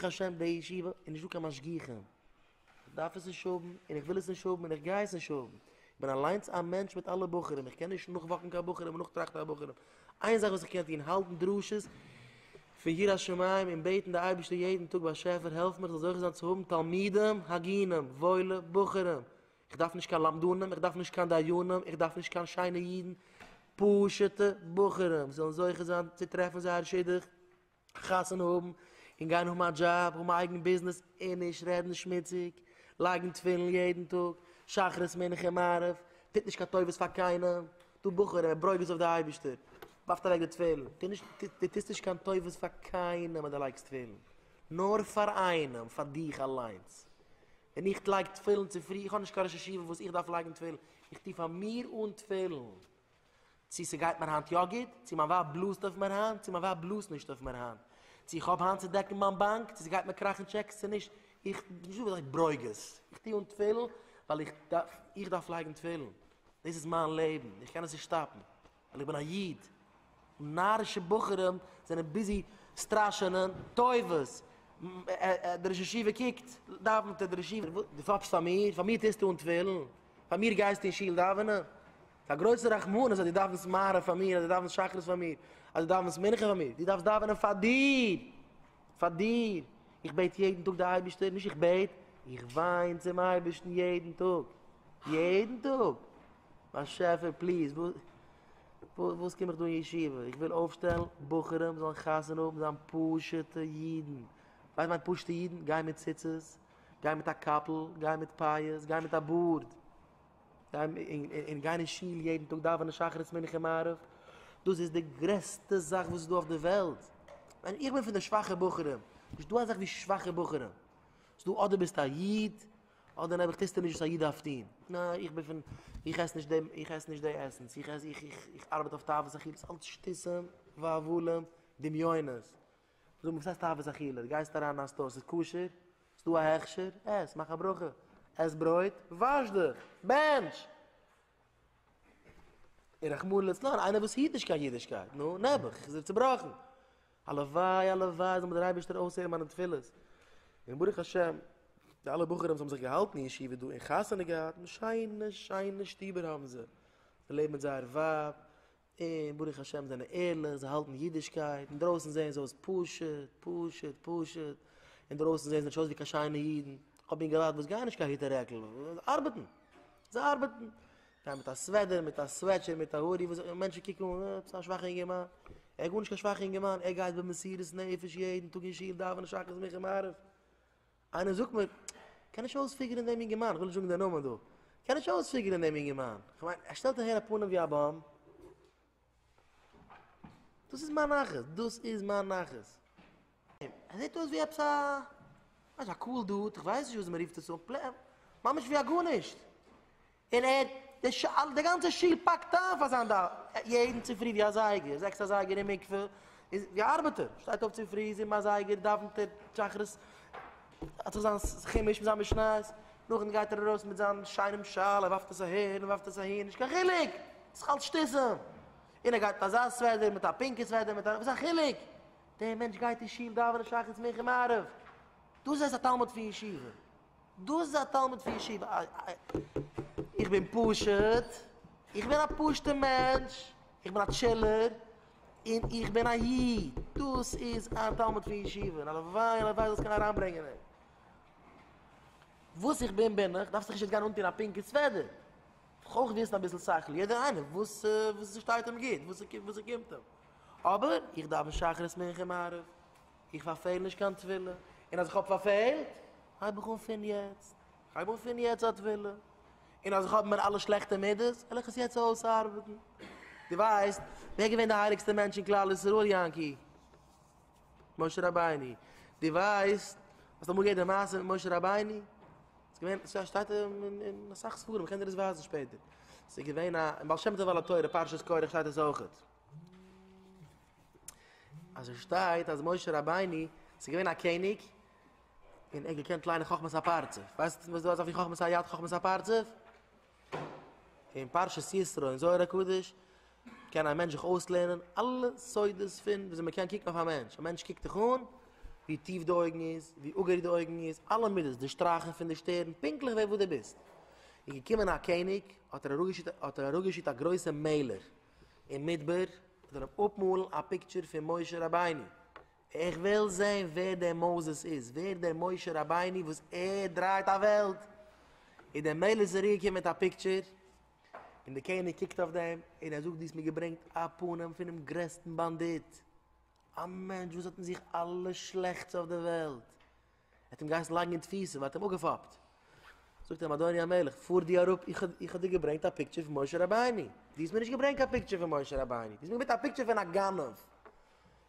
ברוך השם די ישיבה איז נישט דא קיין משגיחים, איך דארף עס נישט האבן און איך וויל עס נישט האבן און איך גיי עס נישט האבן, איך בין אליינס א מענטש מיט אלע בחורים, איך קען נישט נאכוואקן קיין בחורים און נאכטראכטן פאר בחורים, איין זאך וואס איך קען טון, האלטן דרשות פון יראת שמים און בעטן די אייבערשטער יעדן טאג באשעפער העלף מיר איך זאל זוכה זיין צו האבן תלמידים הגונים, וואוילע בחורים, איך דארף נישט קיין למדנים, איך דארף נישט קיין דיינים, איך דארף נישט קיין שיינע אידן, פשוטע בחורים זאלן זוכה זיין צו טרעפן זייער שידוך. א חתונה האבן און גיין האבן א דזשאב, האבן א אייגן ביזנעס און נישט רעדן שמוציג, לייגן תפילין יעדן טאג, שחרית מנחה און מעריב, טוט נישט קיין טובות פאר קיינעם, דו בחור ער ברוגז אויף די אייבערשטער, ווארפט אוועק די תפילין, טו נישט, דו טוסט נישט קיין טובות פאר קיינעם אז דו לייגסט תפילין, נאר פאר איינעם, פאר דיך אליינס. ווען איך לייג תפילין צופרי, איך האב נישט קיין ראש ישיבה וואס איך דארף לייגן תפילין, איך טו פאר מיר אן תפילין. צי ס'גייט מיר היינט יא גוט, צי מיין ווייב בלאזט אויף מיר היינט, צי מיין ווייב בלאזט נישט אויף מיר היינט, צי איך האב היינט צו דעקן מיין באנק, צי ס'גייט מיר קראכן טשעקס צי נישט, איך בין נישט דא ווען זיי ברוגז, איך טו אן תפילין ווייל איך דארף, איך דארף לייגן תפילין, דאס איז מיין לעבן, איך קען עס נישט שטאפן, ווייל איך בין א איד, נארישע בחורים זענען ביזי סטראשענען טובות, דער ראש ישיבה קוקט, דאווענט ער, דער ראש ישיבה, דו פאפסט פאר מיר? פאר מיר טוסטו אן תפילין? פאר מיר גייסטו אין שול דאווענען? א גרויסע רחמנות אז דו דאווענסט מעריב פאר מיר, אז דו דאווענסט שחרית פאר מיר, אז דו דאווענסט מנחה פאר מיר, דו דארפסט דאווענען פאר דיר! פאר דיר! איך בעט יעדן טאג די אייבערשטער, נישט איך בעט, איך וויין צום אייבערשטן יעדן טאג! יעדן טאג! באשעפער פליז, וואס וואס קום איך דא אין ישיבה? איך וויל אויפשטעלן בחורים זאלן חתונה האבן זיין פשוט'ע אידן! ווייסט מיינט פשוט'ע אידן? גיין מיט ציצית, גיין מיט א קאפל, גיין מיט פאות, גיין מיט א בארד. און גיין אין שול יעדן טאג דאווענען שחרית מנחה און מעריב, דאס איז די גרעסטע זאך וואס איז דא אויף די וועלט, איך בין פון די שוואכע בחורים, נישט דא אזאך ווי שוואכע בחורים, ס'איז דא אדער ביסטו א איד, אדער נעבעך טוסטו נישט וואס א איד דארף טון, ניין איך בין פון, איך עס נישט די, איך עס נישט די עסנס, איך עס, איך, איך, איך ארבעט אויף תאוות אכילות, אלץ שטותים, והבלים, דמיונות, זאג מיר, וואס הייסט תאוות אכילה? דו גייסט אריין אין א סטאר, ס'איז כשר? ס'דא א הכשר? עס, מאך א ברכה, עס ברויט, וואש דיך, בענטש! און רחמנא לצלן, איינער וואס היט נישט קיין אידישקייט, נו, נעבעך, איז ער צובראכן. הלוואי, הלוואי, זאל מיר דער אייבערשטער אויסהערן מיינע תפילות. און ברוך השם, די אלע בחורים וואס האבן זיך געהאלטן אין ישיבה דא און חתונה געהאט, שיינע, שיינע שטובער האבן זיי. זיי לעבן מיט זייער ווייב, און ברוך השם זענען ערליך, זיי האלטן אידישקייט, אינדרויסן זעען זיי אויס פשוט, פשוט, פשוט, אינדרויסן זעען זיי נישט אויס ווי קיין שיינע אידן, כ'האב אינגעלייט וואס גייען נישט קיין היט און רעקל, זיי ארבעטן, זיי ארבעטן, גייען מיט א סוועדער, מיט א סוועטשער, מיט א הודי, וואס זאגט מען, מענטשן קוקן אן, אה, עפעס א שוואכע אינגערמאן, ער איז גארנישט קיין שוואכע אינגערמאן, ער גייט במסירות נפש יעדן טאג אין שול דאווענען שחרית מנחה מעריב. איינער זאגט מיר, כ'קען נישט אויספיגערן דעם יונגערמאן, כ'וויל נישט זאגן די נאמען דא, כ'קען נישט אויספיגערן דעם יונגערמאן, כ'מיין, ער שטעלט אהער א פנים ווי א באם. דאס איז מיין נחת, דאס איז מיין נחת. ער זעט אויס ווי עפעס א, ווייסט, א קאול דוד, כ'ווייס נישט וויאזוי מ'רופט עס אן, ממש ווי א גארנישט. און ער האט די שאל די גאנצע שול פאקט איין פאר זיין דאוו יעדן צופרי ווי אזייגער זעקס אזייגער אין מקווה איז ווי א ארבעטער שטייט אויף צופרי זיבן אזייגער דאוונט ער שחרית האט זיך זיין חומש מיט זיין משניות נאכדעם גייט ער ארויס מיט זיין שיינעם שאל ער ווארפט עס אהער און ווארפט עס אהין נישט קיין חילוק ס'איז אלץ שטיסל און ער גייט מיט אזא סוועדער מיט א פינקע סוועדער מיט א וואס איז א חילוק דער מענטש גייט אין שול דאווענען שחרית מנחה מעריב דאס הייסט א תלמיד פון ישיבה. דאס איז א תלמיד פון ישיבה? איך בין פשוט, איך בין א פשוטע מענטש, איך בין א טשילער, און איך בין א איד, דאס איז א תלמיד פון ישיבה? הלוואי הלוואי זאלסט קענען אריינברענגען אים. וואס איך בין בין איך, דארפסט דיך נישט יעצט גיין אנטון א פינקע סוועדער, דארף אויך וויסן אביסל שכל, יעדער איינער וואס ס'שטייט אים גוט, וואס ס'קומט אים, אבער איך דאוון שחרית מנחה מעריב. איך פארפעל נישט קיין טבילה, און אז איך האב פארפעלט, הייב איך אן פון יעצט, איך הייב אן פון יעצט א טבילה, און אז איך האב אין מיר אלע שלעכטע מידות, וועל איך עס יעצט אויסארבעטן. דו ווייסט ווער געווען די הייליגסטע מענטש אין כלל ישראל, יענקי? משה רבינו. דו ווייסט, האסט אמאל געהערט די מעשה מיט משה רבינו? עס געווען, עס שטייט אין אסאך ספרים, איך קען דיר עס ווייזן שפעטער. עס איז געווען א, אין בעל שם טוב על התורה פרשת קרח שטייט עס אויכעט. אז עס שטייט אז משה רבינו איז געווען א קעניג און ער האט געקענט ליינען חכמת הפרצוף, ווייסט וואס דו האסט אויף די חכמת היד חכמת הפרצוף? אין פרשת ישרו אין זוהר הקדוש קען א מענטש זיך אויסלערנען אלע סודות פון ווי אזוי מען קען קוקן אויף א מענטש, א מענטש קוקט דיך אן, ווי טיף די אויגן איז, ווי אגערדיג די אויגן איז, אלע מידות, די שטרייכן פון די שטערן, פונקטליך ווער וואס דו ביסט. איז געקומען א קעניג האט ער אראפגעשיקט א גרויסע מעלער, אין מדבר זאל אים אפמאלן א פיקטשער פון משה רבינו, איך וויל זען ווער דער מוזס איז, ווער דער משה רבינו וואס ער דרייט א וועלט, איז דער מלך זרוע געקומען מיט א פיקטשער, און דער קעניג קוקט אויף דעם און ער זאגט דו האסט מיר געברענגט א פנים פונעם גרעסטן באנדיט, א מענטש וואס האט אין זיך אלע שלעכטס אויף דער וועלט. ער האט אים געהייסן לייגן אין תפיסה, מען האט אים אפגעפאפט. זאגט אים אדוני המלך, פאר דו אראפ, איך האב דיר געברענגט א פיקטשער פון משה רבינו, דו האסט מיר נישט געברענגט קיין פיקטשער פון משה רבינו, דו האסט מיר געברענגט א פיקטשער פון א גנב,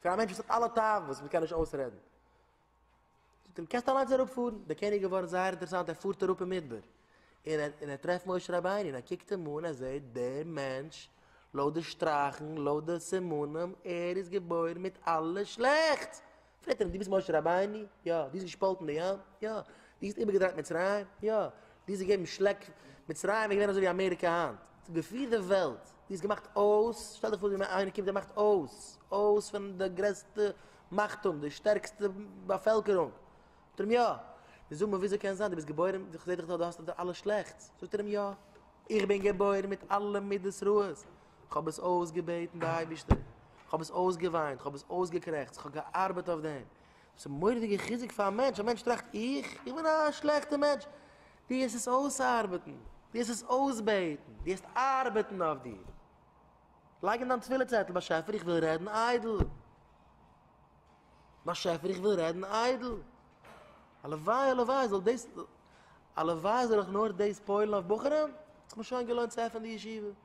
פון א מענטש וואס האט אלע תאוות וואס מען קען נישט אויסרעדן. זאגט אים, קענסט אליינס אראפ פארן. דער קעניג איז געווארן זייער אינטערעסאנט, ער פארט אראפ אין מדבר, און ער און ער טרעפט משה רבינו, און ער קוקט אים אן, ער זעט דער מענטש, לויט די שטראכן, לויט די סימנים, ער איז געבוירן מיט אלע שלעכטס, פרעגט ער אים, דו ביסט משה רבינו? יא. דו האסט געשפאלטן די ים? יא. דו האסט איבערגעדרייט מצרים? יא. דו האסט געגעבן שלעק? מצרים איז געווען אזוי ווי אמעריקע היינט, עס האט געפירט די וועלט. דו האסט געמאכט אויס, שטעל דיך פאר ווי איינער קומט און מאכט אויס, אויס פון די גרעסטע מאכט האבן, די שטערקסטע באפעלקערונג. זאגט ער אים יא. נו זאג מיר וויאזוי קען זיין, דו ביסט געבוירן, איך זע דיך דא, דו האסט אלע שלעכטס. זאגט ער אים יא. איך בין געבוירן מיט אלע מידות רעות. כ'האב עס אויסגעבעטן די אייבישטער, כ'האב עס אויסגעוויינט, כ'האב עס אויסגעקרעכצט, כ'האב געארבעט אויף דעם, דאס איז מורא'דיגע חיזוק פאר א מענטש, א מענטש טראכט איך, איך בין א שלעכטע מענטש, דו העסט עס אויסארבעטן, דו העסט עס אויסבעטן, דו העסט ארבעטן אויף דיר, לייג אין דיין תפילה צעטל, באשעפער איך וויל רעדן איידל, באשעפער איך וויל רעדן איידל, הלוואי הלוואי זאל דאס, הלוואי זאל איך נאר דאס פועל'ן אויף בחורים, ס'האט מיר שוין געלוינט צו עפענען די ישיבה.